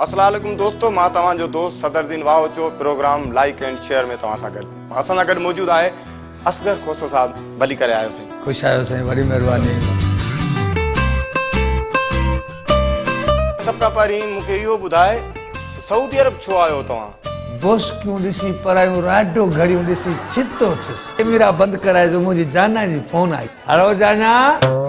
اسلا عليڪم دوستو مان توهان جو دوست Sadar Din Wahocho programme like and share ۾ توهان سان گڏ اسان سان گڏ موجود آهي اصغر کوسو صاحب ڀلي ڪري آيو سائين. خوش آيو سائين وڏي مهرباني. سڀ کان پهرين مون کي اهو ٻڌاء ته سعودي عرب ڇو آيو توهان. بوسڪيون ڏسي پرايون راڊو گهڙيون ڏسي ڇتو ٿيس. ڪيميرا بند ڪرائي جو منهنجي جانان جي فون آئي. هلو جانان.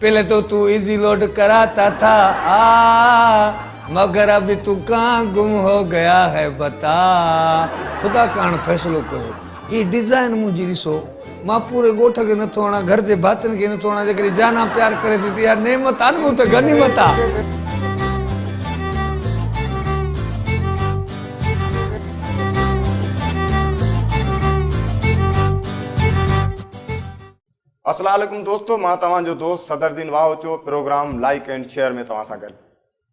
پهلي تو تون ايزي لوڊ ڪرا تا ٿا آ مگر ابي تو ڪان گم هو گيا هي بتا خدا ڪان فيصلو ڪيو هي ڊيزائن منهنجي ڏسو مان پوري ڳوٺ کي نٿو هڻان گهر جي ڀاتين کي نٿو هڻان جيڪڏهن جانان پيار ڪري ٿي ته اها نعمت آ نه مون تي غنيمت آ. اسلا عليڪم دوستو مان توهان جو دوست Sadar Din Wahocho programme like and share ۾ توهان سان گڏ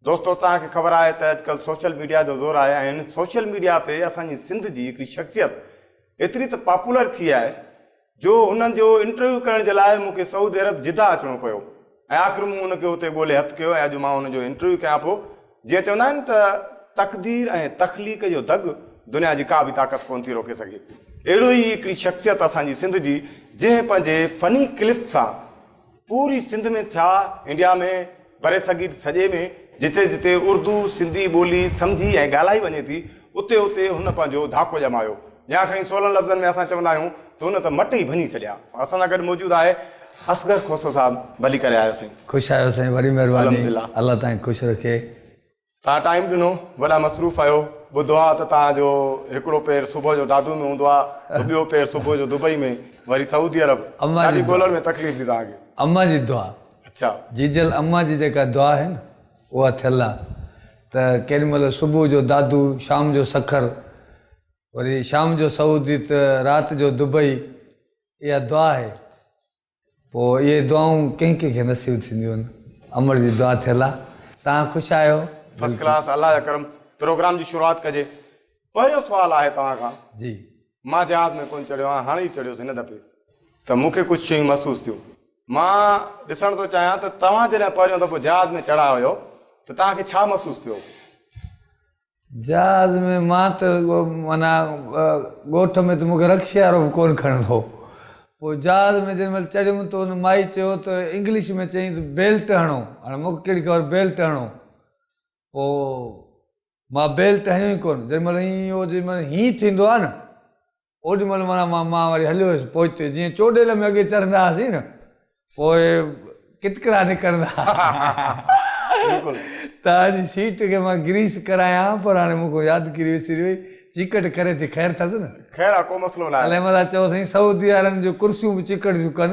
دوستو توهان کي خبر آهي ته اڄڪلھ سوشل ميڊيا جو زور آهي ۽ سوشل ميڊيا تي اسان جي سنڌ جي هڪڙي شخصيت ايتري ته پاپولر ٿي آهي جو هن جو انٽرويو ڪرڻ جي لاء مون کي سعودي عرب جده اچڻو پيو ۽ آخر مون ان کي اتي ڳولي هٿ ڪيو ۽ اڄ مان ان جو انٽرويو ڪيان پيو. جيئن چوندا آهن ته تقدير ۽ تخليق جو دڳ دنيا جي ڪا به طاقت ڪونه ٿي روڪي سگهي. اهڙو ئي هڪڙي شخصيت اسان جي سنڌ جي جنهن پنهنجي فني ڪلف سان پوري سنڌ ۾ ٿيا انڊيا ۾ برصغير سڄي ۾ جتي جتي اردو سنڌي ٻولي سمجهي ۽ ڳالهائي وڃي ٿي اتي اتي هن پنهنجو ڌاڪو ڄمايو يا کڻي سولن لفظن ۾ اسان چوندا آهيون ته هن ته مٽ ئي ڀڃي ڇڏيا. اسان سان گڏ موجود آهي اصغر کوسو صاحب ڀلي ڪري آيو سائين. خوش آهيو سائين وڏي مهرباني الله توهان کي خوش رکي. تان ٽائيم ڏنو وڏا مصروف آهيو ٻڌو آ ته تان جو هڪڙو پير صبح جو دادو ۾ هوندو آ ته ٻيو پير صبح جو دبئي ۾ وري سعودي عرب ڏاڍي ڳولڻ ۾ تڪليف ٿي تان کي. اما جي دعا اچا جيجل اما جي جيڪا دعا آهي نه. اها ٿيل آ ته ڪيڏي مهل صبح جو دادو، شام جو سکر، وري شام جو سعودي ته رات جو دبئي اها دعا آهي. پوء اهي دعائون ڪنهن ڪنهن کي نصيب ٿينديون آهن. امڙ جي دعا ٿيل آ. توهان خوش آهيو؟ فرسٽ ڪلاس الله جا ڪرم پروگرام جي شروعات ڪجي پهريون سوال آهي توهان کان. جي. مان جهاز ۾ ڪونه چڙهيو آهيان، هاڻي ئي چڙهيس هن دفعي ته مون کي ڪجهه شيون محسوس ٿيون. مان ڏسڻ ٿو چاهيان ته توهان جڏهن پهريون دفعو جهاز ۾ چڙها هيو ته توهان کي ڇا محسوس ٿيو هو؟ جهاز ۾ مان ته معنيٰ ڳوٺ ۾ ته مون کي رڪشي وارو به ڪونه کڻندو هو. پوء جهاز ۾ جنهن مهل چڙهيم ته ان مائي چيو ته انگلش ۾ چيائين ته بيلٽ هڻو. هاڻي مون کي ڪهڙي خبر بيلٽ هڻو. پوء مان بيل ٽهيو ئي ڪونه، جيڏي مهل ائين هو جيڏي مهل هينئن ٿيندو آهي نه اوڏي مهل معنيٰ مان مان وري هليو ويس پوئتي جيئن چوڏيل ۾ اڳي چڙهندا هئاسين نه پوء ڪٽڪڙا نڪرندا ته اڄ سيٽ کي مان گريس ڪرايان ها پر هاڻي مون کان يادگيري وسري وئي چيڪٽ ڪري ٿي خير اٿس نه. خير آ ڪو مسئلو ناهي. علي احمد آ چئو سائين سعودي وارن جون ڪرسيون به چيڪٽ ٿيون ڪن.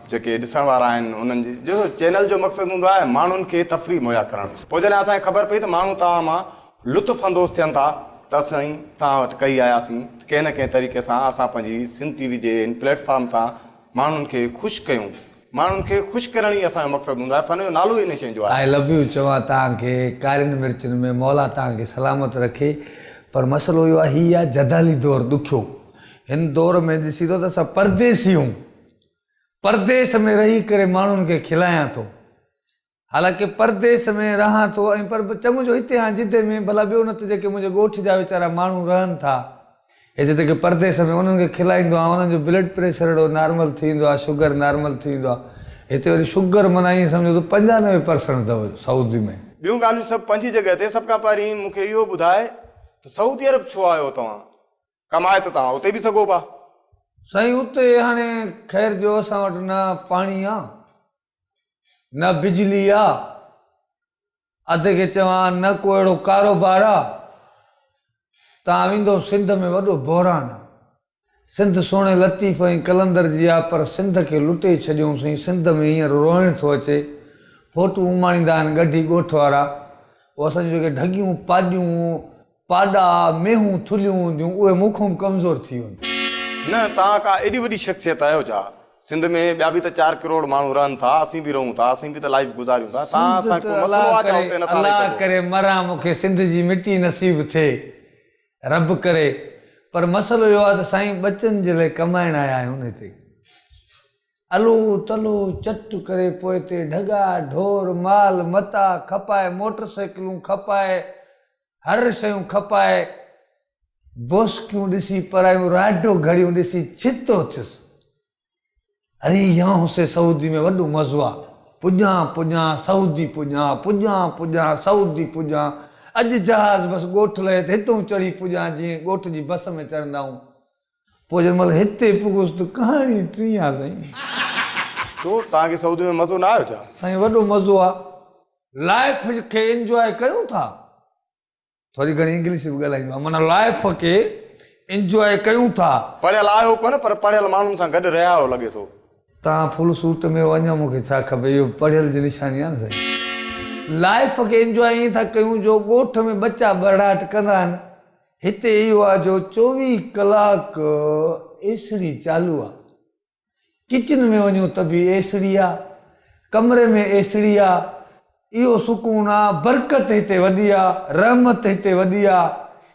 جيڪي ڏسڻ وارا آهن انهن جي جو چينل جو مقصد هوندو آهي ماڻهن کي تفريح مهيا ڪرڻ پوء جڏهن اسان کي خبر پئي ته ماڻهو توهان مان لطف اندوز ٿين ٿا ته اسين توهان وٽ ڪهي آياسين ته ڪنهن نه ڪنهن طريقي سان اسان پنهنجي سنڌ ٽي وي جي هن پليٽ فارم تان ماڻهن کي خوش ڪيون ماڻهن کي خوش ڪرڻ ئي اسان جو مقصد هوندو آهي فن جو نالو ئي ان شين جو آهي. I love you چوان توهان کي ڪارين مرچن ۾ مولا توهان کي سلامت رکي پر مسئلو اهو آهي هي آهي جدالي دور ڏکيو هن دور ۾ ڏسي ٿو ته اسان پرديسي هون. پرديس ۾ رهي ڪري ماڻهن کي کلائيان ٿو. حالانڪه پرديس ۾ رهان ٿو ۽ پر چڱو جو هتي هان جده ۾ ڀلا ٻيو نه ته جيڪي منهنجي ڳوٺ جا ويچارا ماڻهو رهن ٿا هي جيتوڪي پرديس ۾ انهن کي کلائيندو آهيان انهن جو بلڊ پريشر اهڙو نارمل ٿي ويندو آهي شگر نارمل ٿي ويندو آهي هتي وري شگر معنيٰ ائين سمجهو ته پنجاهه نوي پرسنٽ اٿو سعودي ۾. ٻيون ڳالهيون سڀ پنهنجي جڳهه تي سڀ کان پهرين مون کي اهو ٻڌاء ته سعودي عرب ڇو آيو توهان ڪم آهي ته توهان اتي به سگهو پا. سائين اتي هاڻي خير جو اسان وٽ نه پاڻي آ نه بجلي آ اتي کي چوان نه ڪو اهڙو ڪاروبار آ تان ويندو سنڌ ۾ وڏو بحران آ سنڌ سهڻي لطيف ۽ قلندر جي آ پر سنڌ کي لٽي ڇڏيون سين سنڌ ۾ هينئر روئڻ ٿو اچي فوٽون اماڻيندا آهن ڳڙهي ڳوٺ وارا هو اسان جون جيڪي ڍڳيون پاڄون پاڏا، مينهون، ٿلهيون هونديون، اهي مون کان به ڪمزور ٿي وينديون. نه، توهان ڪا ايڏي وڏي شخصيت آهيو ڇا؟ سنڌ ۾ ٻيا به ته چار ڪروڙ ماڻهو رهن ٿا، اسين به رهون ٿا، اسين به ته لائيف گذاريون ٿا، توهان سان ڪو مسئلو آهي ڇا اتي نٿا رهي سگهو؟ الله ڪري مران مون کي سنڌ جي مٽي نصيب ٿئي، رب ڪري، پر مسئلو اهو آهي ته سائين ٻچن جي لاء ڪمائڻ آيا آهيون هتي، الو تلو چٽ ڪري پوء اتي ڍڳا، ڍور، مال متاع کپائي، موٽر سائيڪلون کپائي، هر شيون کپائي بوسڪيون ڏسي پرايون راڊو گهڙيون ڏسي ڇتو ٿيس. اڙي يانهون سي سعودي ۾ وڏو مزو آ. پڄان پڄان سعودي پڄان پڄان پڄان سعودي پڄان اڄ جهاز بس ڳوٺ لهي ته هتئون چڙهي پڄان جيئن ڳوٺ جي بس ۾ چڙهندا آهون. پوء جنهن مهل هتي پڳس ته ڪهاڻي ٽينء آ سائين. ڇو توهان کي سعودي ۾ مزو نه آيو ڇا؟ سائين وڏو مزو آ لائيف کي انجواء ڪيون ٿا ٿوري گهڻي انگلش به ڳالهائيندو آهيان معنيٰ لائيف کي انجواء ڪيون ٿا. پڙهيل آهيو ڪونه پر پڙهيل ماڻهن سان گڏ رهيا آهيو لڳي ٿو. توهان فل سوٽ ۾ هو اڃان مون کي ڇا کپي اهو به پڙهيل جي نشاني آ نه سائين لائيف کي انجواء ائين ٿا ڪيون جو ڳوٺ ۾ ٻچا ٻرڙاٽ ڪندا آهن هتي اهو آ جو چوويهه ڪلاڪ اي سڙي چالو آ. ڪچن ۾ وڃون ته به اي سڙي آ. ڪمري ۾ اي سڙي آ. اهو سڪون آ. برڪت هتي وڏي آ. رحمت هتي وڏي آ.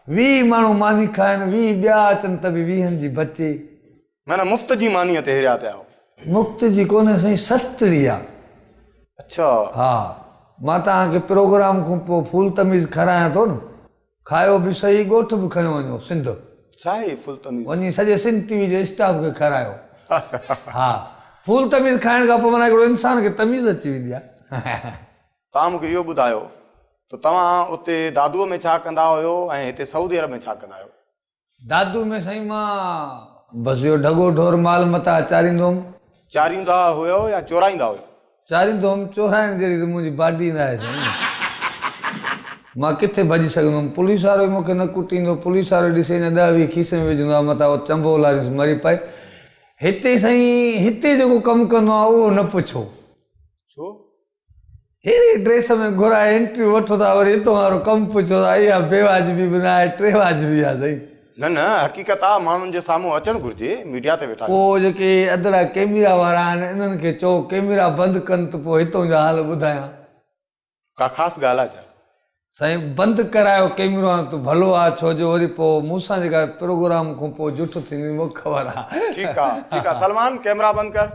ويهه ماڻهو ماني کائن، ويهه ٻيا اچن ته به ويهن جي بچي. معنيٰ مفت جي مانيء تي هريا پيا آهو. مفت جي ڪونهي سائين سستڙي آ. اڇا. ها. مان توهان کي پروگرام کان پوء ڦول تميز کارايان ٿو نه. کايو به سهي ڳوٺ به کنيو وڃو سنڌ ڇا هي فول تميز. وڃي سڄي سنڌ ٽي وي جي اسٽاف کي کارايو ها فول تميز کائڻ کان پوء معنيٰ هڪڙو انسان کي تميز اچي ويندي آهي. توهان مون کي اهو ٻڌايو ته توهان اتي دادوء ۾ ڇا ڪندا هيو ۽ هتي سعودي عرب ۾ ڇا ڪندا آهيو؟ دادو ۾ سائين مان بس اهو ڍڳو ڍور مال متان چاريندو هوم. چاريندا هيو يا چورائيندا هيو؟ چاريندو هوم، چورائڻ جهڙي ته منهنجي باڊي نه آهي سائين. مان ڪٿي ڀڄي سگهندوم، پوليس وارو ئي مون کي نه ڪٽيندو، پوليس وارو ڏسي اڃا ڏهه ويهه کيسي ۾ وجهندو آهي متان اهو چنبو لاريونس مري پئي. هتي سائين هتي جيڪو ڪم ڪندو آهيان اهو نه پڇو. ڇو؟ ههڙي ڊريس ۾ گهرائي انٽريو وٺو ٿا وري اتون وارو ڪم پڇو ٿا اها بي واجبي به نه آهي ٽي واجبي آهي سائين. نه نه حقيقت آ ماڻهن جي سامهون اچڻ گهرجي ميڊيا تي ويٺا ڪو آهيون. جيڪي ادرا ڪيميرا وارا آهن انهن کي چئو ڪيميرا بند ڪن ته پو هتون جا حال ٻڌايان. ڪا خاص ڳالهه آ ڇا؟ سائين بند ڪرايو ڪيمرو هان ته ڀلو آ ڇو جو وري پو مون سان جيڪا پروگرام کون پو جٺ ٿيندي مونکي خبر آ. ٺيڪ آ ٺيڪ آ سلمان ڪيمرا بند ڪر.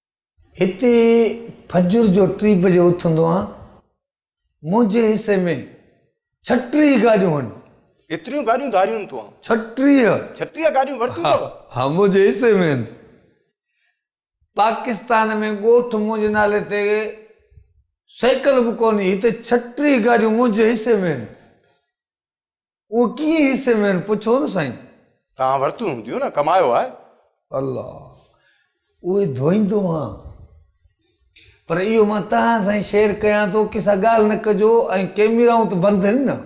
هتي فجر جو ٽي بجي اٿندو آهيان. منهنجي حصي ۾ ڇٽيهه گاڏيون هن. ايتريون گاڏيون ڌاريون تو آن. ڇٽيهه. ڇٽيهه گاڏيون ورتيون اٿئو. ها منهنجي حصي ۾ هن. پاڪستان ۾ ڳوٺ منهنجي نالي تي سيڪل به ڪونهي هتي ڇٽيهه گاڏيون منهنجي حصي ۾ هن. اهي ڪيئن حصي ۾ آهن؟ پڇو نه سائين! توهان ورتيون هونديون نه، ڪمايو آهي. الله! اهي ڌوئيندو هان. پر اهو مان توهان سان شيئر ڪيان ٿو، ڪنهن سان ڳالهه نه ڪجو ۽ ڪيميرائون ته بند هين نه.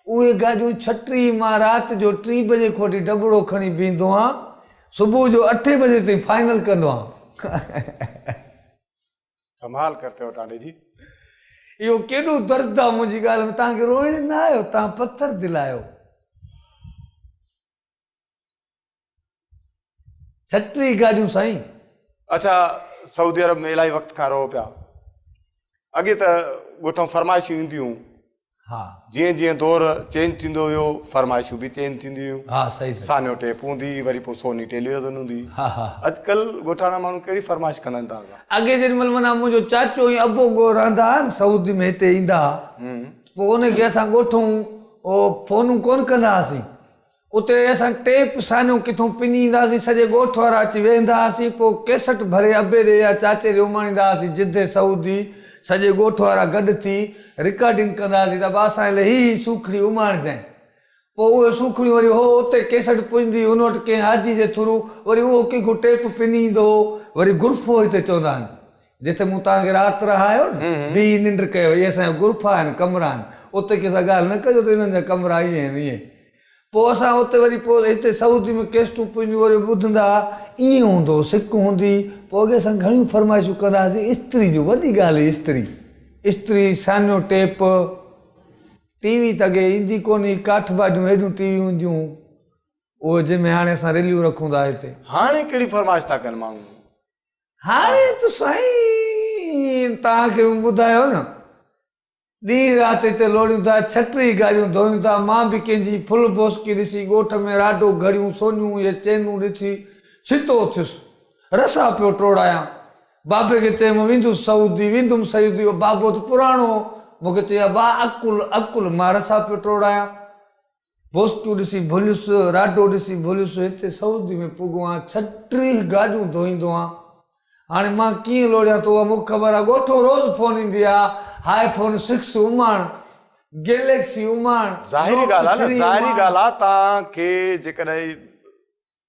اهي گاجون ڇٽي مان رات جو ٽي بجي کان وٺي ڊٻڙو کڻي بيهندو هان، صبح جو اٺين بجي تائين فائنل ڪندو هان. ڪمال ڪرتي هو ٽانڊي جي. اهو ڪيڏو درد آ منهنجي ڳالهه ۾ توهان کي روئڻ نه آيو توهان پٿر دل آهيو. جهٽ ري گاڏيون سائين. اڇا سعودي عرب ۾ الائي وقت کان رهو پيا اڳي ته ڳوٺ مان فرمائشون اينديون ها. جيئن جيئن دور چينج ٿيندو ويو فرمائشون به چينج ٿينديون ويون. ها صحيح صحيح. سانيو ٽيپ هوندي هئي وري پوء سوني ٽيليوزن هوندي هئي. ها ها. اڄڪل ڳوٺاڻا ماڻهو ڪهڙي فرمائش ڪندا آهن داغا. اڳي جنهن مهل معنيٰ منهنجو چاچو ۽ ابو ڳوهه رهندا هئا نه سعودي ۾ هتي ايندا هئا ته پوء انهن کي اسان ڳوٺون فونون ڪونه ڪندا هئاسين اتي اسان ٽيپ سانيون ڪٿون پني ايندا هئاسين، سڄي ڳوٺ وارا اچي ويهندا هئاسين، پوء ڪيسٽ ڀري ابي ڏي يا چاچي ڏي اماڻيندا هئاسين، جدي سعودي سڄي ڳوٺ وارا گڏ ٿي رڪارڊنگ ڪندا هئاسين ته ابا اسان لاء هي هي سوکڙي اماڻيندين، پوء اهي سوکڙيون وري هو اتي ڪيسٽ پڄندي هئي ان وٽ ڪنهن حاجي جي ٿرو وري اهو ڪنهن کان ٽيپ پني ايندو هو، وري گرفو هتي چوندا آهن، جتي مون توهان کي رات رهايو نه، بيهي ننڊ ڪيو، اهي اسان جا غرفا آهن، ڪمرا آهن، اتي ڪنهن سان ڳالهه نه ڪجو ته انهن جا ڪمرا ائين آهن، ائين. پوء اسان اتي وري پوء هتي سعودي ۾ ڪيسٽون پنهنجون وري ٻڌندا ها، ائين هوندو هو، سڪ هوندي هئي، پوء اڳي اسان گهڻيون فرمائشون ڪندا هئاسين، استري جون، وڏي ڳالهه هئي استري، استري، سانيو ٽيپ، ٽي وي ته اڳي ايندي ڪونه هئي، ڪاٺ باڊيون هيڏيون ٽي ويون هونديون هيون، اهي جنهن ۾ هاڻي اسان رليون رکون ٿا هتي. هاڻي ڪهڙي فرمائش ٿا ڪن ماڻهو. هاڻي ته سائين توهان کي مون ٻڌايو نه ڏينهن رات هتي لوڙيون ٿا ڇٽري گاريون ڌوئيون ٿا مان به ڪنهن جي ڦل بوسڪي ڏسي ڳوٺ ۾ راڊو گهڙيون سونيون يا چينون ڏسي ڇتو اٿيس رسا پيو ٽوڙايان بابي کي چيم ويندس سعودي ويندم سعودي اهو بابو ته پراڻو هو مون کي چئي ابا عقل عقل مان رسا پيو ٽوڙايان بوستون ڏسي ڀليس، راڊو ڏسي ڀليس، هتي سعودي ۾ پڳو آن ڇهه ٽيهه گاڏيون ڌوئيندو آن. هاڻي مان ڪيئن لوڙهيان تو اها مون کي خبر آ. ڳوٺئون روز فون ايندي آ، آء فون سڪس اماڻ، گيليڪسي اماڻ، ظاهري نوٽ ڳالهه آ نه، ٿري ظاهري اماڻ. ڳالهه آ تان کي جيڪڏهن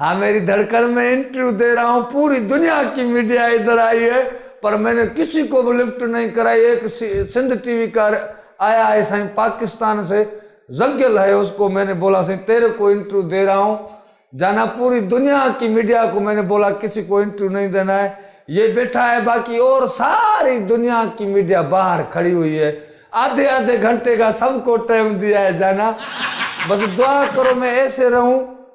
ها ميري ڌڙڪن ۾ انٽرويو دي رها هون پوري دنيا ڪي ميڊيا ادھر آئي هي پر مين ني ڪسي ڪو به لفٽ نهين ڪرائي ايڪ سنڌ ٽي وي ڪار آيا هي سائين پاڪستان سي زگيل هي اس ڪو مين ني بولا سائين تيري ڪو انٽرويو دي رها هون جانا پوري دنيا ڪي ميڊيا ڪو مين ني بولا ڪسي ڪو انٽرويو نهين دينا هي يي بيٺا هي باقي اور ساري دنيا ڪي ميڊيا باهر کڙي هئي هي آڌي آڌي گهنٽي کا سب ڪو ٽيم ديا هي جانا بس دعا ڪرو مين ايسي رهون.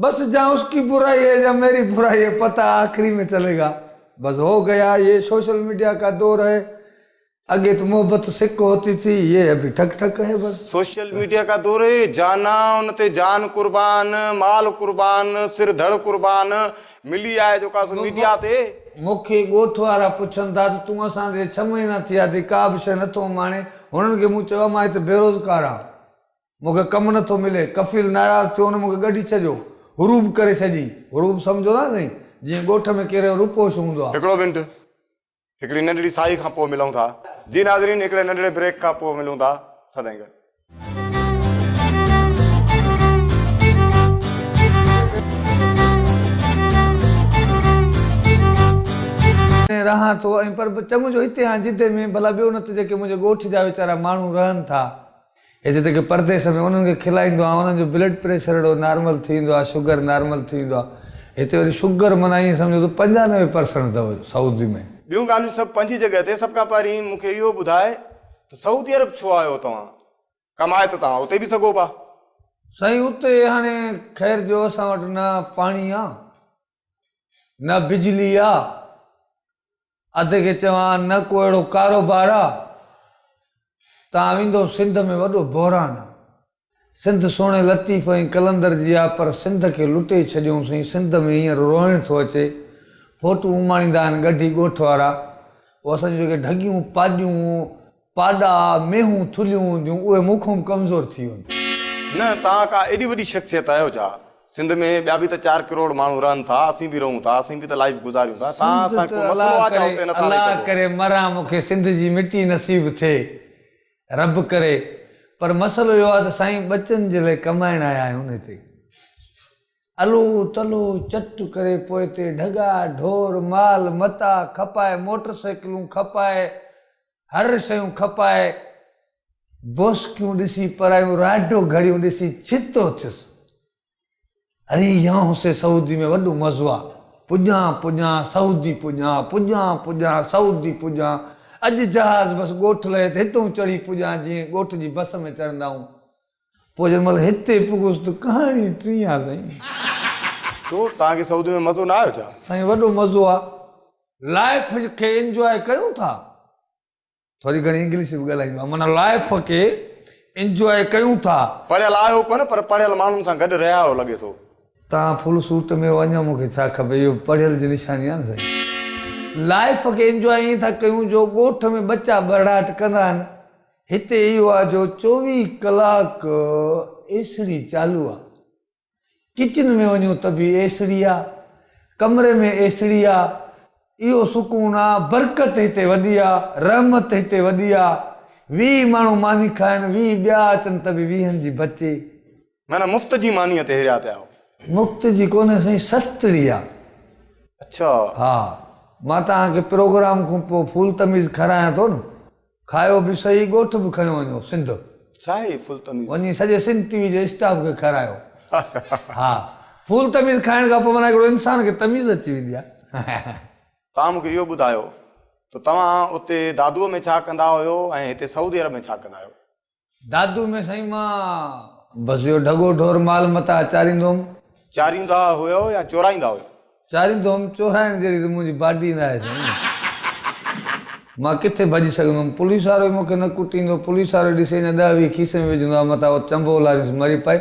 بس جهان اس ڪي برائي هي يا ميري برائي هي پتا آخري مين چلي گا بس هو گيا يي سوشل ميڊيا ڪا دور هي اگي تو محبت سڪ هوتي ٿي يي ابهي ٺڪ ٺڪ هي بس. سوشل ميڊيا ڪا دور هي جانا ان تي جان قربان مال قربان سر ڌڙ قربان ملي آهي جو ڪا سو ميڊيا تي. مونکي ڳوٺ وارا پڇن ٿا ته تون اسان ڏي ڇهه مهينا ٿيا اٿئي ڪا به شيء نٿو اماڻين هنن کي مون چيو آهي مان هتي بيروزگار آهيان مون کي ڪم نه ٿو ملي. ڪفيل ناراض ٿيو هن مون کي ڳڍي ڇڏيو. هروب ڪري ڇڏيئين. هروب سمجهو ٿا نه سائين جيئن ڳوٺ ۾ ڪيريو روپوش هوندو آ. هڪڙو منٽ هڪڙي ننڍڙي ساهي کان پوء ملون ٿا. جي ناظرين هڪڙي ننڍڙي بريڪ کان پوء ملون ٿا سدائين گڏ. ۾ رهان ٿو ۽ پر چڱو جو هتي آهيان جدي ۾ ڀلا ٻيو نه ته جيڪي منهنجي ڳوٺ جا ويچارا ماڻهو رهن ٿا. هي جيڪي پرديس ۾ انهن کي کلائيندو آهيان انهن جو بلڊ پريشر اهڙو نارمل ٿي ويندو آهي شگر نارمل ٿي ويندو آهي هتي وري شگر معنيٰ ائين سمجهو ته پنجاهه نوي پرسنٽ اٿو سعودي ۾. ٻيون ڳالهيون سڀ پنهنجي جڳهه تي سڀ کان پهرين مون کي اهو ٻڌاء ته سعودي عرب ڇو آيو توهان ڪمائي ته توهان اتي به سگهو پا. سائين اتي هاڻي خير جو اسان وٽ نه پاڻي آ نه بجلي آ، اڌ کي چوان نه ڪو اهڙو ڪاروبار آ، تان ويندو سنڌ ۾ وڏو بحران آ. سنڌ سهڻي لطيف ۽ قلندر جي آ پر سنڌ کي لٽي ڇڏيون سين سنڌ ۾ هينئر روئڻ ٿو اچي فوٽون اماڻيندا آهن ڳڍي ڳوٺ وارا او اسان جون جيڪي ڍڳيون پاڄون پاڏا، مينهون، ٿلهيون هونديون، اهي مون کان به ڪمزور ٿي وينديون. نه، توهان ڪا ايڏي وڏي شخصيت آهيو ڇا؟ سنڌ ۾ ٻيا به ته چار ڪروڙ ماڻهو رهن ٿا، اسين به رهون ٿا، اسين به ته لائيف گذاريون ٿا، توهان سان ڪو مسئلو آهي ڇا اتي نٿا رهي سگهو؟ الله ڪري مران مون کي سنڌ جي مٽي نصيب ٿئي، رب ڪري، پر مسئلو اهو آهي ته سائين ٻچن جي لاء ڪمائڻ آيا آهيون هتي، الو تلو چٽ ڪري پوء هتي ڍڳا ڍور مال متاع کپائي موٽر سائيڪلون کپائي هر شيون کپائي بوسڪيون ڏسي پرايون راڊو گهڙيون ڏسي ڇتو ٿيس. اڙي يانهون سي سعودي ۾ وڏو مزو آ. پڄان پڄان سعودي پڄان پڄان پڄان سعودي پڄان اڄ جهاز بس ڳوٺ لهي ته هتئون چڙهي پڄان جيئن ڳوٺ جي بس ۾ چڙهندائون پوء جنهن مهل هتي پڳس ته ڪهاڻي ٽينء آ سائين. ڇو توهان کي سعودي ۾ مزو نه آيو ڇا؟ سائين وڏو مزو آ لائف کي انجواء ڪيون ٿا ٿوري گهڻي انگلش به ڳالهائيندو آهيان معنيٰ لائف کي انجواء ڪيون ٿا. پڙهيل آهيو ڪونه پر پڙهيل ماڻهن سان گڏ رهيا آهيو لڳي ٿو. توهان فل سوٽ ۾ هو اڃان مون کي ڇا کپي اهو به پڙهيل جي نشاني آ نه سائين لائف کي انجواء ائين ٿا ڪيون جو ڳوٺ ۾ ٻچا ٻرڙاٽ ڪندا آهن هتي اهو آ جو چوويهه ڪلاڪ اي سڙي چالو آ ڪچن ۾ وڃون ته به اي سڙي آ ڪمري ۾ اي سڙي آ اهو سڪون آ برڪت هتي وڏي آ رحمت هتي وڏي آ ويهه ماڻهو ماني کائن ويهه ٻيا اچن ته به ويهن جي بچي. معنيٰ مفت جي مانيء تي هريا پيا آهو. مفت جي ڪونهي سائين سستڙي آ. اڇا. ها مان توهان کي پروگرام کون پوء ڦول تميز کارايان ٿو نه. کايو به سهي ڳوٺ به کنيو وڃو سنڌ ڇا هي فول تميز. وڃي سڄي سنڌ ٽي وي جي اسٽاف کي کارايو ها فول تميز کائڻ کان پوء معنيٰ هڪڙو انسان کي تميز اچي ويندي آهي. توهان مون کي اهو ٻڌايو ته توهان اتي دادوء ۾ ڇا ڪندا هيو ۽ هتي سعودي عرب ۾ ڇا ڪندا آهيو؟ دادو ۾ سائين مان بس اهو ڍڳو ڍور مال متان چاريندو هوم. چاريندا هيو يا چورائيندا هيو؟ چاريندو هوم، چورائڻ جهڙي ته منهنجي باڊي نه آهي سائين. مان ڪٿي ڀڄي سگهندوم، پوليس وارو ئي مون کي نه ڪٽيندو، پوليس وارو ڏسي اڃا ڏهه ويهه کيسي ۾ وجهندو آهي متان اهو چنبو لاريونس مري پئي.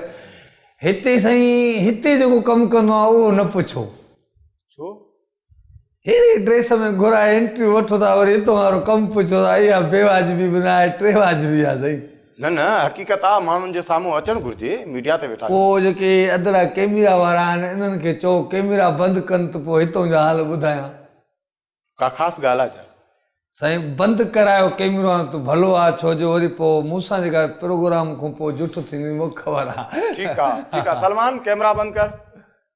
هتي سائين هتي جيڪو ڪم ڪندو آهيان اهو نه پڇو. ڇو؟ ههڙي ڊريس ۾ گهرائي انٽريو وٺو ٿا وري اتون وارو ڪم پڇو ٿا اها بي واجبي به نه آهي ٽي واجبي آهي سائين. نه نه حقيقت آ ماڻهن جي سامهون اچڻ گهرجي ميڊيا تي ويٺا ڪو ڪيو. جيڪي ادرا ڪيميرا وارا آهن انهن کي چئو ڪيميرا بند ڪن ته پو هتون جو حال ٻڌايان. ڪا خاص ڳالهه آ ڇا؟ سائين بند ڪرايو ڪيمرو هان ته ڀلو آ ڇو جو وري پو مون سان جيڪا پروگرام کون پو جٺ ٿيندي مونکي خبر آ. ٺيڪ آ ٺيڪ آ سلمان ڪيمرا بند ڪر.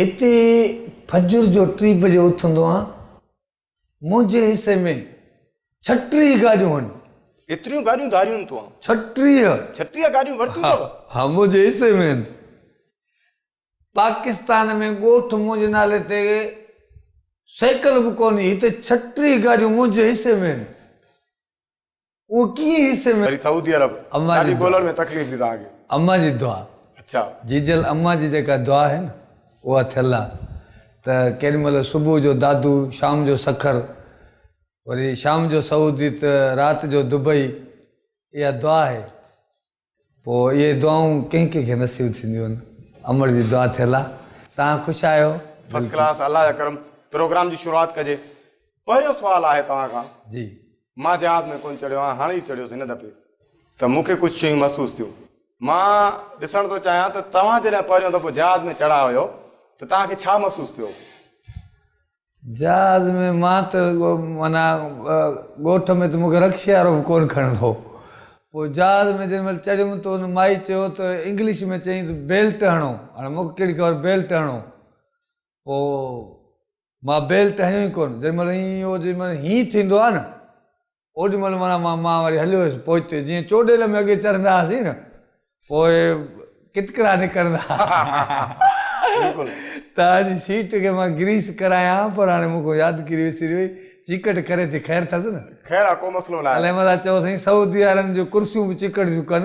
هتي فجر جو ٽي بجي اٿندو آهيان. منهنجي حصي ۾ ڇٽيهه گاڏيون هن. ايتريون گاڏيون ڌاريون تو آن. ڇٽيهه. ڇٽيهه گاڏيون ورتيون اٿئو. ها منهنجي حصي ۾ هن. پاڪستان ۾ ڳوٺ منهنجي نالي تي سيڪل به ڪونهي هتي ڇٽيهه گاڏيون منهنجي حصي ۾ هن. اهو ڪيئن حصي ۾. وري سعودي عرب ڏاڍي ڳولڻ ۾ تڪليف ڏي تهان کي. اما جي دعا. اڇا. جيجل اما جي جيڪا دعا آهي نه اها ٿيل آ ته ڪيڏي مهل صبح جو دادو شام جو سکر وري شام جو سعودي ته رات جو دبئي اها دعا آهي. پوء اهي دعائون ڪنهن ڪنهن کي نصيب ٿينديون امڙ جي دعا ٿيل آ تهان خوش آهيو. فرسٽ ڪلاس الله جا ڪرم پروگرام جي شروعات ڪجي پهريون سوال آهي توهان کان جي مان جهاز ۾ ڪونه چڙهيو آهيان هاڻي ئي چڙهيس هن دفعي ته مون کي ڪجهه شيون محسوس ٿيون مان ڏسڻ ٿو چاهيان ته توهان جڏهن پهريون دفعو جهاز ۾ چڙها هيو ته توهان کي ڇا محسوس ٿيو جهاز ۾ مان ته معنيٰ ڳوٺ ۾ ته مون کي رڪشي وارو به ڪونه کڻندو هو. پوء جهاز ۾ جنهن مهل چڙهيم ته ان مائي چيو ته انگلش ۾ چيائين ته بيلٽ هڻو. هاڻي مون کي ڪهڙي خبر بيلٽ هڻو. پوء مان بيلٽ هنيو ئي ڪونه. جنهن مهل ائين هو جنهن مهل هينئين ٿيندو آهي نه اوڏي مھل معنيٰ مان مان وري ھليو ويس پوئتي جيئن چوڏيل ۾ اڳي چڙھندا ھئاسين نه پوء ڪٽڪڙا نڪرندا تان جي سيٽ کي مان گريس ڪرايان ھا پر ھاڻي مون کان يادگيري وسري وئي چيڪٽ ڪري ٿي خير ٿس نه. خير آ ڪو مسئلو ناھي. علي ملاح چيو سائين سعودي وارن جون ڪرسيون به چيڪٽ جون ڪن.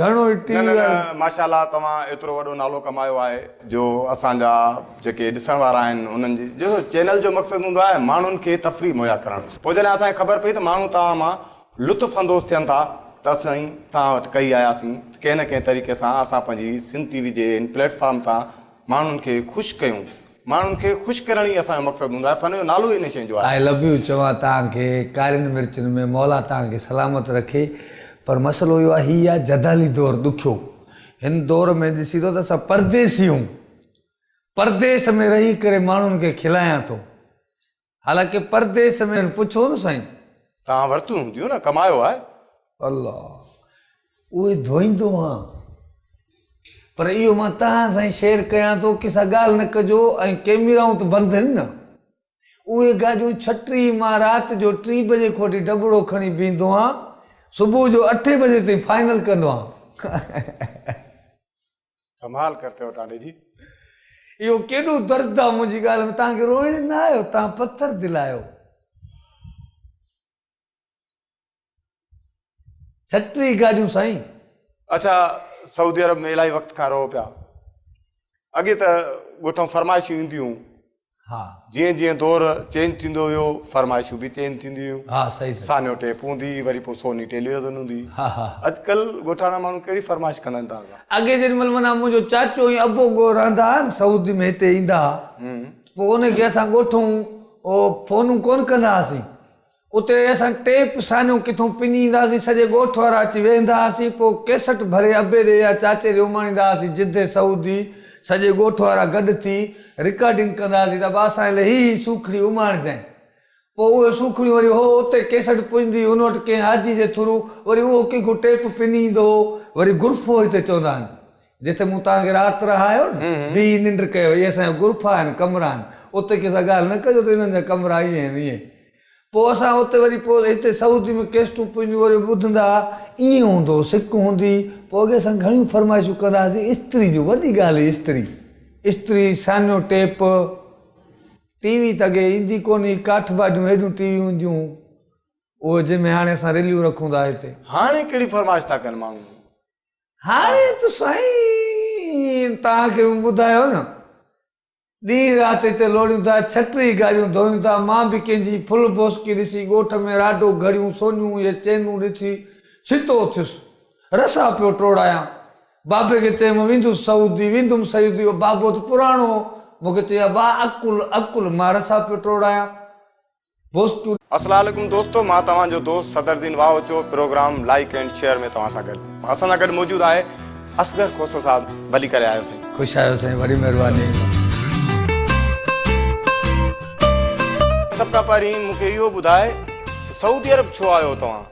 گهڻو ئي ٽي وي وارن. ماشاءالله توهان ايترو وڏو نالو ڪمايو آهي جو اسان جا جيڪي ڏسڻ وارا آهن انهن جي جو چينل جو مقصد هوندو آهي ماڻهن کي تفريح مهيا ڪرڻ پوء جڏهن اسان کي خبر پئي ته ماڻهو توهان مان لطف اندوز ٿين ٿا ته اسين توهان وٽ ڪهي آياسين ته ڪنهن نه ڪنهن طريقي سان اسان پنهنجي سنڌ ٽي وي جي هن پليٽ فارم تان ماڻهن کي خوش ڪيون. ماڻهن کي خوش ڪرڻ ئي اسان جو مقصد هوندو آهي. فن جو نالو ئي ان شين جو آهي. آء لو يو چوان تان کي ڪارين مرچن ۾ مولا تان کي سلامت رکي پر مسئلو اهو آهي هي آهي جدالي دور ڏکيو هن دور ۾ ڏسي ٿو ته اسان پرديسي هون پرديس ۾ رهي ڪري ماڻهن کي کلايان ٿو حالانڪه پرديس ۾. کين پڇو نه سائين! توهان ورتيون هونديون نه، ڪمايو آهي. الله! اهي ڌوئيندو هان. پر اهو مان توهان سان ئي شيئر ڪيان ٿو، ڪنهن سان ڳالهه نه ڪجو ۽ ڪئميرائون ته بند هن نه. اهي گاڏيون ڇٽي مان رات جو ٽي بجي کان وٺي ڍٻڙو کڻي بيهندو هان، صبح جو اٺين بجي تائين فائنل ڪندو هان. ڪمال ڪرتي هو ٽانڊي جي. اهو ڪيڏو درد آ منهنجي ڳالهه ۾ توهان کي روئڻ نه آيو توهان پٿر دل آهيو. جهٽ ري گاڏيون سائين. اڇا سعودي عرب ۾ الاهي وقت کان رهو پيا اڳي ته ڳوٺ مان فرمائشون اينديون ها. جيئن جيئن دور چينج ٿيندو ويو فرمائشون به چينج ٿينديون ويون. ها صحيح صحيح. سانيو ٽيپ هوندي هئي وري پوء سوني ٽيليوزن هوندي هئي. ها ها. اڄڪلهه ڳوٺاڻا ماڻهو ڪهڙي فرمائش ڪندا آهن تازا. اڳي جنهن مهل معنيٰ منهنجو چاچو ۽ ابو ڳوهه رهندا هئا نه سعودي ۾ هتي ايندا هئا ته پوء انهن کي اسان ڳوٺون فونون ڪونه ڪندا هئاسين اتي اسان ٽيپ سانيون ڪٿون پني ايندا هئاسين، سڄي ڳوٺ وارا اچي ويهندا هئاسين، پوء ڪيسٽ ڀري ابي ڏي يا چاچي ڏي اماڻيندا هئاسين، جدي سعودي سڄي ڳوٺ وارا گڏ ٿي رڪارڊنگ ڪندا هئاسين ته ابا اسان لاء هي هي سوکڙي اماڻجانء، پوء اهي سوکڙيون وري هو اتي ڪيسٽ پڄندي هئي، ان وٽ ڪنهن حاجي جي ٿرو وري اهو ڪنهن کان ٽيپ پني ايندو هو، وري گرفو هتي چوندا آهن، جتي مون توهان کي رات رهايو نه، بيهي ننڊ ڪيو، اهي اسان جا غرفا آهن، ڪمرا آهن، اتي ڪنهن سان ڳالهه نه ڪجو ته انهن جا ڪمرا ائين آهن، ائين. پوء اسان اتي وري پوء هتي سعودي ۾ ڪيسٽون پنهنجون وري ٻڌندا هئا، ائين هوندو هو، سڪ هوندي هئي، پوء اڳي اسان گهڻيون فرمائشون ڪندا هئاسين، استري جون، وڏي ڳالهه هئي استري، استري، سانيو ٽيپ، ٽي وي ته اڳي ايندي ڪونه هئي، ڪاٺ باڊيون هيڏيون ٽي ويون هونديون هيون، اهي جنهن ۾ هاڻي اسان رليون رکون ٿا هتي. هاڻي ڪهڙي فرمائش ٿا ڪن ماڻهو. هاڻي ته سائين توهان کي مون ٻڌايو نه ڏينهن رات هتي لوڙيون ٿا ڇٽري گاريون ڌوئيون ٿا مان به ڪنهن جي ڦل ڀوسڪي ڏسي ڳوٺ ۾ راڊو گهڙيون سونيون يا چينون ڏسي ڇتو ٿيس رسا پيو ٽوڙايان بابي کي چيم ويندس سعودي ويندم سعودي اهو بابو ته پراڻو هو مون کي چئي ابا عقل عقل مان رسا پيو ٽوڙايان پوسٽ. السلام عليڪم دوستو مان توهان جو دوست Sadar Din Wahocho programme like and share ۾ توهان سان گڏ اسان سان گڏ موجود آهي اصغر کوسو صاحب ڀلي ڪري آيو سائين. خوش آيو سائين وڏي مهرباني. سڀ کان پهرين مون کي اهو ٻڌاء ته سعودي عرب ڇو آيو توهان.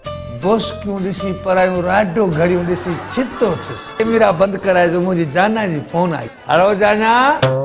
بوسڪيون ڏسي پرايون راڊو گهڙيون ڏسي ڇتو ٿيس. ڪيميرا بند ڪرائي جو منهنجي جانان جي فون آئي. هلو جانان.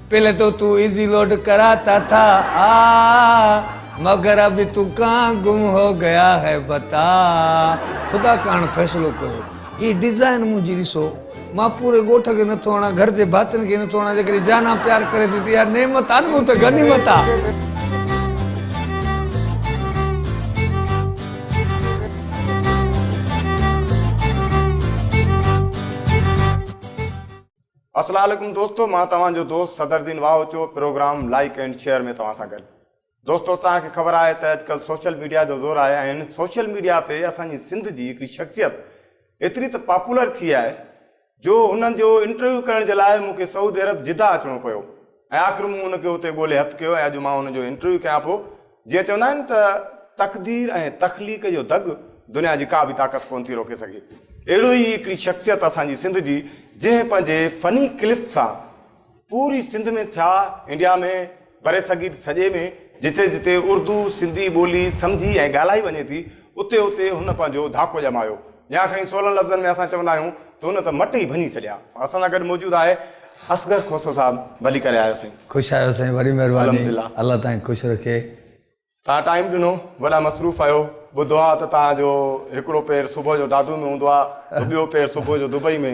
پهلي تو تون ايزي لوڊ ڪرا تا ٿا آ مگر ابي تو ڪان گم هو گيا هي بتا خدا ڪاڻ فيصلو ڪيو هي ڊيزائن منهنجي ڏسو مان پوري ڳوٺ کي نٿو هڻان گهر جي ڀاتين کي نٿو هڻان جيڪڏهن جانان پيار ڪري ٿي ته اها نعمت آ نه مون تي غنيمت آ. اسلا عليڪم دوستو مان توهان جو دوست Sadar Din Wahocho programme like and share ۾ توهان سان گڏ دوستو توهان کي خبر آهي ته اڄڪلهه سوشل ميڊيا جو زور آهي ۽ هن سوشل ميڊيا تي اسان جي سنڌ جي هڪڙي شخصيت ايتري ته پاپولر ٿي آهي جو هن جو انٽرويو ڪرڻ جي لاء مون کي سعودي عرب جده اچڻو پيو ۽ آخر مون ان کي اتي ڳولي هٿ ڪيو ۽ اڄ مان ان جو انٽرويو ڪيان پيو. جيئن چوندا آهن ته تقدير ۽ تخليق جو دڳ دنيا جي ڪا به طاقت ڪونه ٿي روڪي سگهي. اهڙو ئي هڪڙي شخصيت اسان جي سنڌ جي جنهن پنهنجي فني ڪلف سان پوري سنڌ ۾ ٿيا انڊيا ۾ برصغير سڄي ۾ جتي جتي اردو سنڌي ٻولي سمجهي ۽ ڳالهائي وڃي ٿي اتي اتي هن پنهنجو ڌاڪو ڄمايو. يا کڻي سولن لفظن ۾ اسان چوندا آهيون ته هن ته مٽ ئي ڀڃي ڇڏيا. اسان سان گڏ موجود آهي اصغر کوسو صاحب ڀلي ڪري آيو سائين. خوش آهيو سائين وڏي مهرباني الله تائين خوش رکي. تان ٽائيم ڏنو وڏا مصروف آهيو ٻڌو آ ته تان جو هڪڙو پير صبح جو دادو ۾ هوندو آ ته ٻيو پير صبح جو دبئي ۾.